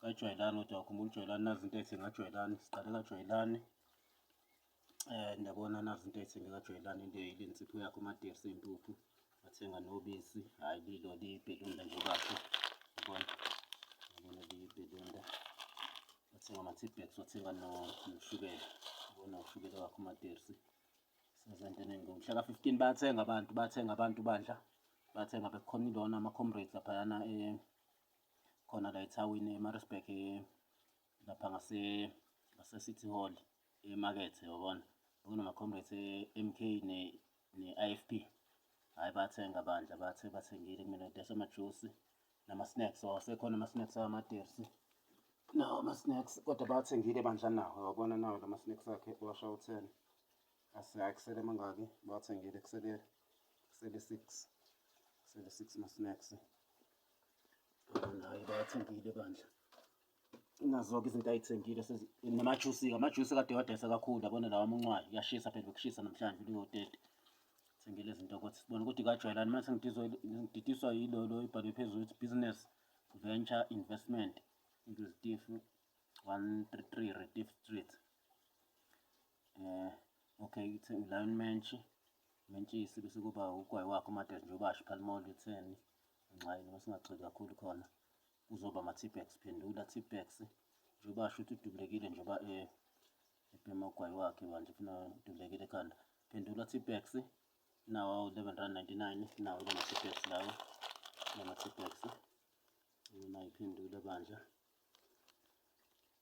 kajwayelani kodwa wakhumbula ujwayelani nazi into ethi ngajwayelani siqale kajwayelani eh ndiyabona nazi into ethi ngikajwayelani into ilensipho yakho umadirsi impuphu wathenga nobisi hhayi lilo liyibhelunda nje bakho yabona yabona liyibhelunda wathenga ama-tbex wathenga noshukela yabona ushukela wakho umadirsi sezentweni ngomhlaka 15 bathenga abantu bathenga abantu bandla bathenga bekukhona ilona ama-comrades laphayana um eh, khona la ethawini eMaritzburg lapha ngase ngase-City Hall emakethe yabona bekunama-comrades e-MK ne-IFP hhayi bathenga bandla bathe bathengile kumina dayisa amajusi nama-snacks wawasekhona ama-snacks awamatersi nawo ama-snacks kodwa bawathengile bandla nawo wabona nawo la ma-snacks akhe washa u-ten asayi kusele mangaki bawathengile kusele kusele six kusele six ma-snacks Hayi bathengile bandla. Nazo-ke izinto ayithengile namajusi-ke amajusi kade wadayisa kakhulu yabona lawa amuncwayo kuyashisa phela bekushisa namhlanje uliyotete thengile izinto ukuthi sibone ukuthi kajwayelani mase ngididiswa yilolo ibhalwe phezulu ukuthi business venture investment into zitifu 133 Retief Street. Eh, okay ithe ulion mentshi mentshisi bese kuba ugwayi wakho umadad nje ubasho phalimoli utheni nxayini uma singagxili kakhulu khona kuzoba ama-tbex phendula tbex nje ubasho ukuthi udubulekile njengoba um eh, ebhema ugwayi wakhe banje funa udubulekile ekhanda phendula tbex nawo awu-eleven rand ninety-nine nawo lama-tbex lawo lama-tbex unayiphendula bandla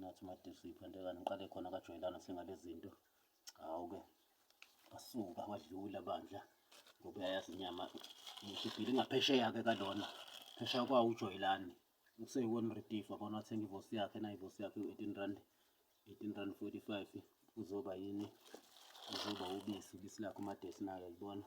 Nathi uMadisi uyiphantekane ngiqale khona kajwayelana singale zinto. Hawu-ke wasuka wadlula bandla ngoba uyayazi inyama ngishibhile ingaphesheya-ke kalona phesheya kwawo ujwayelani useyiwona redifa bona wathenga ivosi yakhe na ivosi yakhe u-eighteen rand eighteen rand forty five uzoba yini uzoba ubisi ubisi lakhe umadesi nayo libona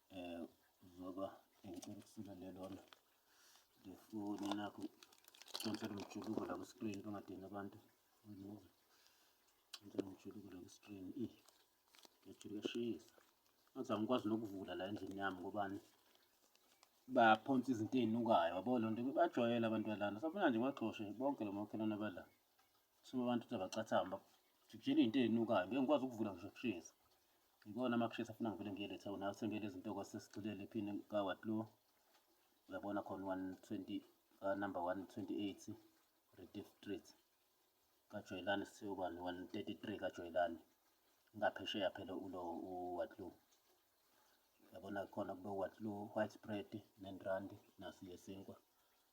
um zoba ngicela ukusula lelona ngefoni nakho ncela umjuluko la ku-screen bangadini abantu remove ncela umjuluko la ku-screen i ngijuluke eshisa ngathi angikwazi nokuvula la endlini yami ngobani baphonsa izinto ey'nukayo wabo loo nto bajwayele abantu balana sabona nje baxoshe bonke lo makhelwane abadlala Sube abantu ukuthi abacathamba jikujela into ezinukayo ngeke ngikwazi ukuvula ngisho kushisa yikona amakushisa afuna ngivele ngiyele town athenge lezi nto kwasesigxilele phini kawatlo uyabona khona 120 ka number 128 Rediff Street kaJoyelani Siyobani 133 kaJoyelani ngaphesheya phela ulo uwatlo yabona khona kube uwatlo white bread nendrandi nasi yesinkwa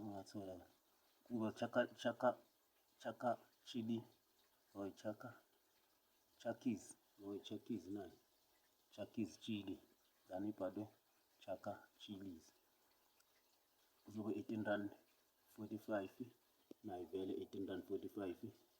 Ungathola kuba chaka chaka chaka chili or chaka chakis or chakis nayo chakis chili than ibhalwe chaka chilies kuzobe 18 rand 45 nayo vele 18 rand 45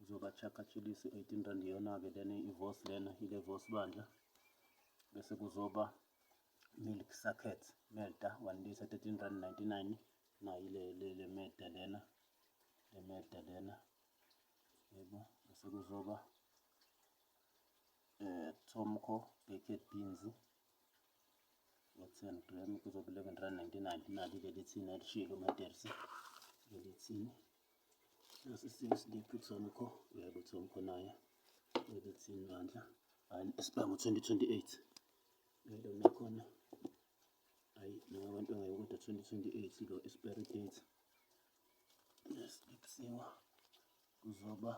uzobachakatshulisa u-18 rand iyona-ke lena ivos lena ile vos bandla bese kuzoba milk socket melta 1 liter 13 rand 99 nayo ile le, le melta lena le melta lena yebo bese kuzoba eh tomco baked beans ngo-10 gram kuzoba 11 rand 99 nali lelithini alishilo matersi lelithini Nasi isimo siliphi kusona kho uyabo ukuthi omkhonayo ukuthi ibandla esibanga ngo-2028 ngelo nakhona ayi noma abantu angayo kodwa 2028 lo expiry date lesiphiwa kuzoba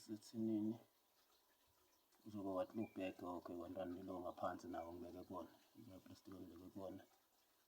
sithinini kuzoba what look back okay wantwana lilo ngaphansi nawo ngibeke kona ngaplastic ngibeke kona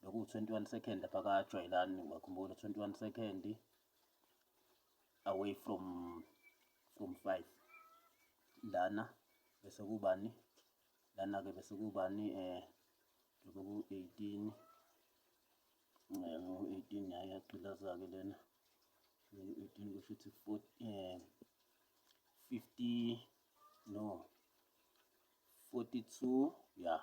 bekuwu-twenty-one second lapha kajwayelani ngiyakhumbula twenty-one second away from from five lana bese kubani lana-ke bese kubani um eh, njengoba ku-eighteen um eh, ngu-eighteen yaye yagqilaza-ke lena eighteen kusho ukuthi um fifty no forty-two ya yeah.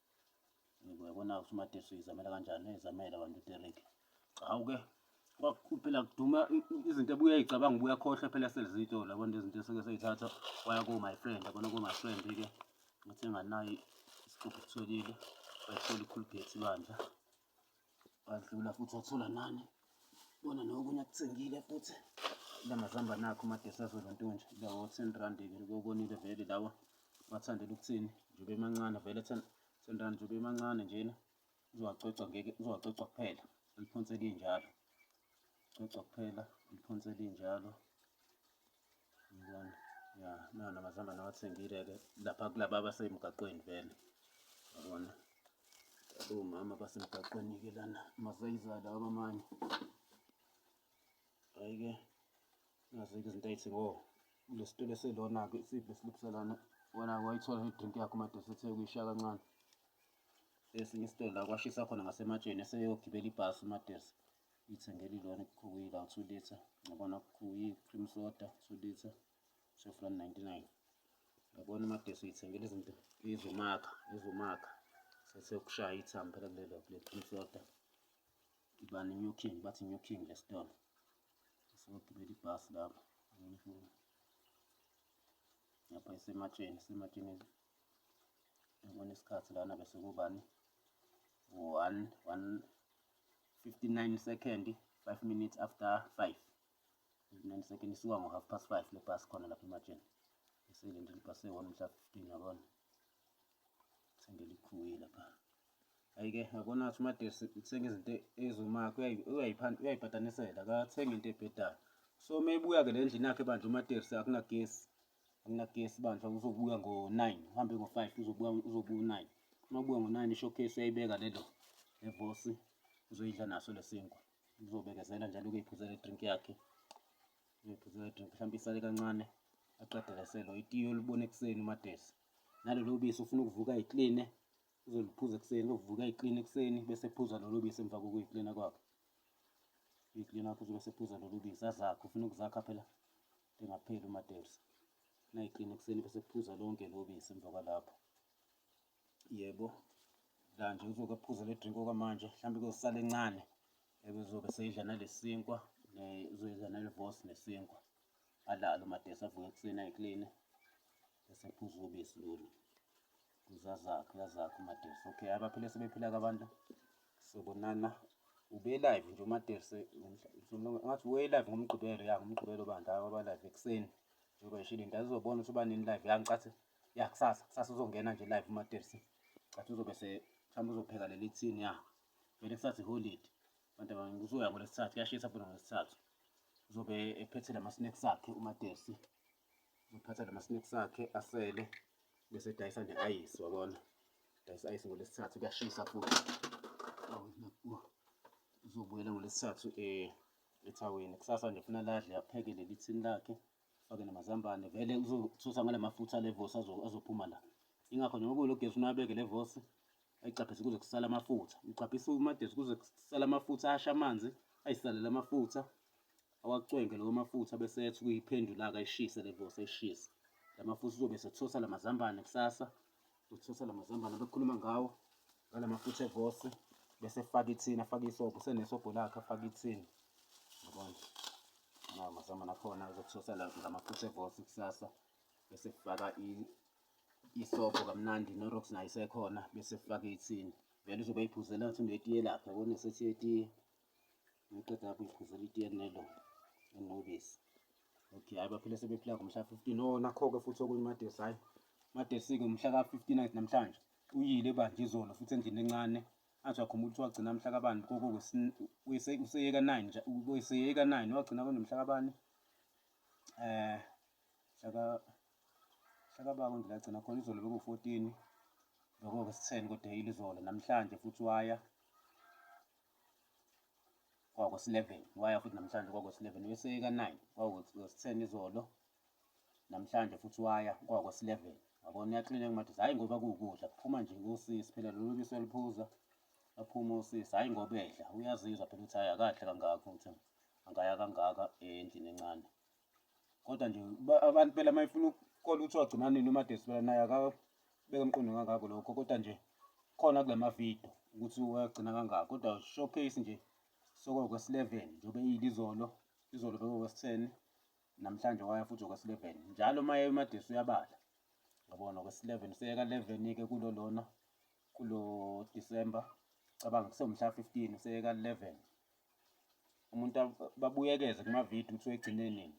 Uyabona ukuthi uMadesu uyizamela kanjani, uyizamela abantu uDerek. Hawu ke phela kuduma izinto ebuye uyicabanga ubuya khohlwa phela selizito labona izinto esuke seyithatha waya ko my friend yabona ko my friend ke ngathi nganayi isixubhu kutholile wayithola ikhulubhethi bandla wadlula futhi wathola nani bona nokunye akuthengile futhi lamazamba nakho umadesazolo ntonje lawo ten rand likokonile vele lawa wathandela ukuthini njobe emancane vele ten ten rand njobe emancane njena uzowacocwa ngeke uzowacocwa kuphela liphonse linjalo cocwa kuphela liphonse linjalo Ngibona. Ya, nana amazambane awathengile-ke lapha kulaba abasemgaqweni vele. Yabona? Omama basemgaqweni-ke lana masayiza lawa abamanye. Hhayi-ke nazo-ke izinto ay'thi ngo kule situlo eselona-ke isidlo esilipsa lana wona wayithola idrink yakho madoda ethe kuyishiya kancane esinye isitolo la kwashisa khona ngasematsheni eseyogibela ibhasi umatesi Ithengela ilona ikhuwile awu 2 liter ngabona kuyi cream soda 2 liter shef la 99 yabona uMagesi uyithengela izinto izomakha izomakha sesekushaya ithambo phela kulelo kule cream soda ibani new king bathi new king le store sokugibela ibhasi lapho lapha isematsheni isematsheni yabona isikhathi lana bese kubani one one 59 second 5 minutes after 5 59 second isuka ngo half past 5 le bus khona lapha ematsheni esele nje libhasi eyi-1 mhla 15 yabona sengelikhuye lapha ayike yabona ukuthi umadesi uthenga izinto eziwumakho uyayipatanisela akathenga into ebhedayo so uma ebuya-ke le ndlini yakhe bandla umatersi akunagesi akunagesi bandla uzobuya ngo-9 uhambe ngo-5 uzobuya uzobuya u-9 uma ubuya ngo-9 ishowcase uyayibeka lelo nevosi uzoyidla naso lesinkwa uzobekezela njalo ukuyiphuzela idrink yakhe uyoyiphuzela idrink mhlawumbe isale kancane aqedeleselo itiyo olibona ekuseni umadesi nalelo bisi ufuna ukuvuka ayikline uzoliphuza ekuseni uvuka ayikline ekuseni bese phuza lolo bisi emva kokuyiklina kwakhe uyiklina wakho uzobe sephuza lolo bisi azakhe ufuna ukuzakha phela Lingapheli uMaterza. Nayiqina ekuseni bese kuphuza lonke lobisi emva kwalapho. Yebo. La nje uzoke aphuze le drink okwamanje, mhlawumbe kuzosala encane. Ebezobe seyidla nalesinkwa, uzoyidla nalevos nesinkwa. Alale uMaterza avuke ekuseni ayikline bese kuphuza ubisi lolu. Uzazakhe uyazakhe uMaterse. Okay, abaphile sebephila ke abantu. Sobonana. Ube live nje uMaterse ngathi uye live ngomgqibelo ya ngomgqibelo bandla aba live ekuseni. Njengoba ishilo into azobona ukuthi uba nini live ya ngicathi ya kusasa kusasa uzongena nje live uMaterse. Cathi uzobe se mhlawumbe uzopheka leli thini ya. Vele kusathi holiday. Abantu abaningi uzoya ngolesithathu kuyashisa futhi ngolesithathu. Uzobe ephethe lama snacks akhe uMaterse. Uphatha lama snacks akhe asele bese dayisa ne ice wabona. Dayisa ice ngolesithathu kuyashisa futhi. Uzobuyela ngolesithathu eh ethaweni. Kusasa nje funa ladle apheke leli thini lakhe fake namazambane vele uzothusa ngale mafutha le vosi azophuma la. Ingakho njengoba kulo gesi unabeke le vosi ayicaphise kuze kusale amafutha. Ucaphisa umadesi kuze kusale amafutha asha amanzi ayisalele amafutha. awacwenge lawo mafutha bese ethi kuyiphendula-ke ayishise le vose ayishise. La mafutha uzobe esethosa la mazambane kusasa, uzothosa la mazambane abekhuluma ngawo ngala mafutha evose bese efaka ithini afake isobho usenesobho lakhe afake ithini yabona nawo mazambane akhona uzothosa la ngamafutha evose kusasa bese efaka isobho kamnandi norox nayo isekhona bese efaka ithini vele uzobe eyiphuzela ngathi unetiye lakhe yabona esethi yetiye Ngiqeda lapho ngiphuzela itiye nelo enobisi. Okay, hayi baphile sebephila ngomhla 15. Oh, nakho-ke futhi okunye uMadesi hayi. Madesi-ke umhla ka-59 namhlanje uyile ebandla izolo futhi endlini encane athi wakhumbula ukuthi wagcina mhla kabani koko useyeka 9 nje useyeka 9 wagcina kunomhla kabani eh shaka shaka bako nje lagcina khona izolo beku 14 lokho ke sitheni kodwa yile izolo namhlanje futhi waya kwakos-11 waya futhi namhlanje kwakos-11 uyoseyeka 9 kwakos-10 izolo namhlanje futhi waya kwakos-11 wabona uyaklinika madoda hhayi ngoba kuwukudla kuphuma nje kosisi phela lolu bisi oluphuza aphume usisi hhayi ngoba edla uyazizwa phela ukuthi hhayi akahle kangako ukuthi angaya kangaka endlini encane kodwa nje abantu phela uma efuna ukukola ukuthi wagcina nini umadesi phela naye akabeke emqondo kangako lokho kodwa nje khona kula mavidiyo ukuthi wagcina kangako kodwa showcase nje sokokwesi 11 njengoba eyile izolo izolo bekokwesi 10 namhlanje waya futhi okwesi 11 njalo uma eya umadesi uyabala ngabona okwesi 11 useyeka 11 ke kulo lona kulo December cabanga kusewumhla 15 useyeka 11 umuntu babuyekeze kumavidiyo ukuthi wegcine nini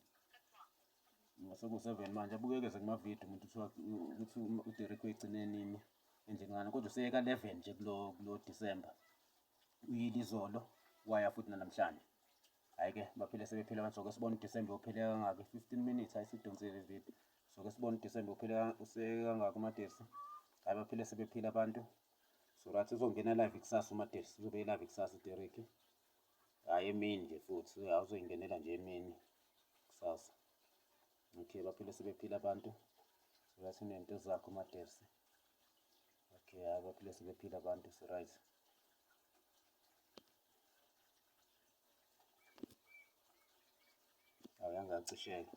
masekuwu-seven manje abuyekeze kumavidiyo umuntu ukuthi uderek wegcine nini enjengani kodwa useyeka eleven nje kulo kulo disemba uyile izolo waya futhi nanamhlanje hhayi-ke baphile sebephile abantu soke sibona udisemba uphile kangaki fifteen minutes hayi sidonsile ividiyo soke sibona udisemba uphile useyeke kangaki umadesi hhayi baphile sebephile abantu so right uzongena live kusasa umadex uzobe live kusasa uderek hhayi emini nje futhi awuzoyingenela nje emini kusasa okay baphile sebephila abantu so right unento zakho umadex okay hhayi baphile sebephila abantu so right awuyangacisheka